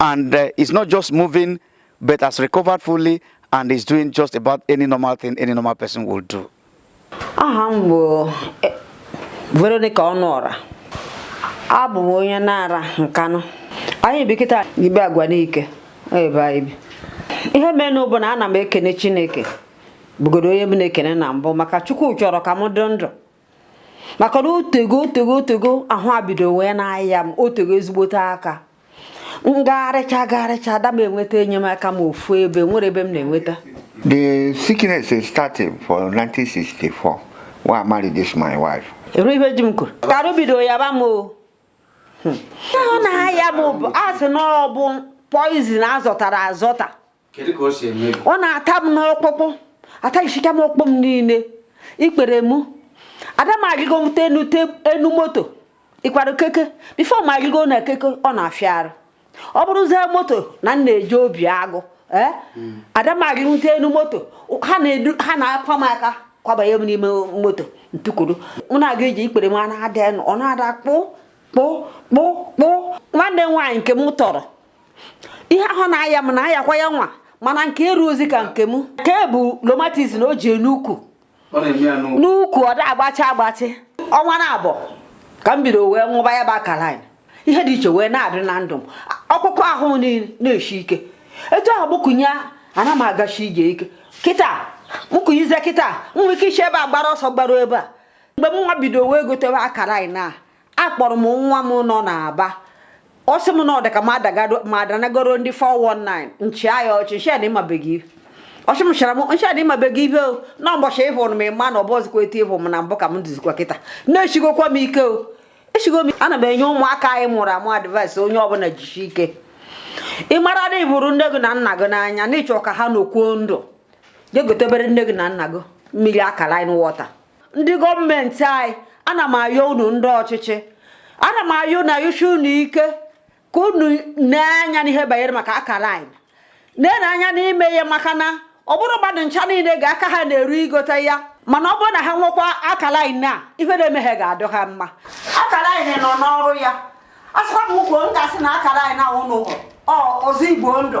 And uh, is not just moving, but has recovered fully and is doing just about any normal thing any normal person will do. Aha m bụ eh, Veronica Ọnụọra. Abụ m onye Nara Nkanụ. Anyị bi kịta Ibagwa Nike ebe anyị bi. Ihe menụ bụ na ana m ekene Chineke bụgodo onye m na-ekene na mbụ maka Chukwu chọrọ ka m dị ndụ. maka na otego otego otego ahụ a bido wee na-aya m otego ezigbote aka m gagharịcha gagharịcha ada m enweta enyemaka m ofu ebe enwero ebe m na-enweta The sickness started for 1964 when I married this my wife. Eru ibe ji m kwuru. Ka arụ bido yaba m o. Hmm. Ọ na-aya m bụ a sị na ọ bụ poison a zọtara azọta. ọ na-ata m n'ọkpụkpụ ataghịchicha m ọkpụ m niile ikpere m ada m arịgo mụta enu moto ịkwado keke before m arịgo na keke ọ na-afịa arụ ọ bụrụzie moto na m na-eje Obiagụ ee hmm. ada m arịgo mụta enu moto ha na-akwa m aka kwabanye m n'ime moto m tukwuru m na-aga ije ikpere m na-ada ọ na-ada kpụ kpụ kpụ kpụ nwanne m nwaanyị nke m tọrọ ihe ahụ na-aya m na-ayakwa ya nwa mana nke erurozi ka nke m nke bụ rheumatism o ji n'ukwu n'ukwu ọ da agbachi agbachi ọnwa naabọ ka m bido wee ṅụba ya bụ alkaline ihe dị iche wee na-adị na ndụ m ọkpụkpụ ahụ m niile na-eshi ike etu ahụ m kunie ana m agashi ije ike kịta m kuniezie kịta m nwere ike ishi ebe a gbara ọsọ gbaruo ebe a mgbe m nwa bido wee goteba alkaline a akpọrọ m nwa m nọ n'Aba ọ sị m na ọ dị ka m adagado m adanagoro ndị 419 m chịa ya ọchị m shị ya ị mabeghị ọ sị m chara m m shị ya ị mabeghị ihe o na ụbọchị ị hụrụ m ị ma na ọ bụrọzikwa etu ị hụ m na mbụ ka m dịzikwa kịta na eshigokwa m ike o eshigo m ana m enye ụmụaka anyị mụrụ amụ advice onye ọbụla jishi ike ị mara na ị hụrụ nne gị na nna gị n'anya na ị chọ ka ha nọkwuo ndụ jee gotebere nne gị na nna gị mmiri alkaline water ndị gọọmenti anyị ana m ayọ unu ndị ọchịchị ana m ayọ na-ayọshi unu ike ka unu nee anya n'ihe banyere maka alkaline a nee anya n'ime ya maka na ọ bụrọ mmadụ ncha niile ka aka ha na-eru igote ya mana ọ bụrụ na ha ṅụkwa alkaline a ihe na-eme ha ga-adị ha mma alkaline nọ n'ọrụ ya a sịkwa m kwuo m ga-asị na akara anyị na ụnụ ọzọ igbo ndụ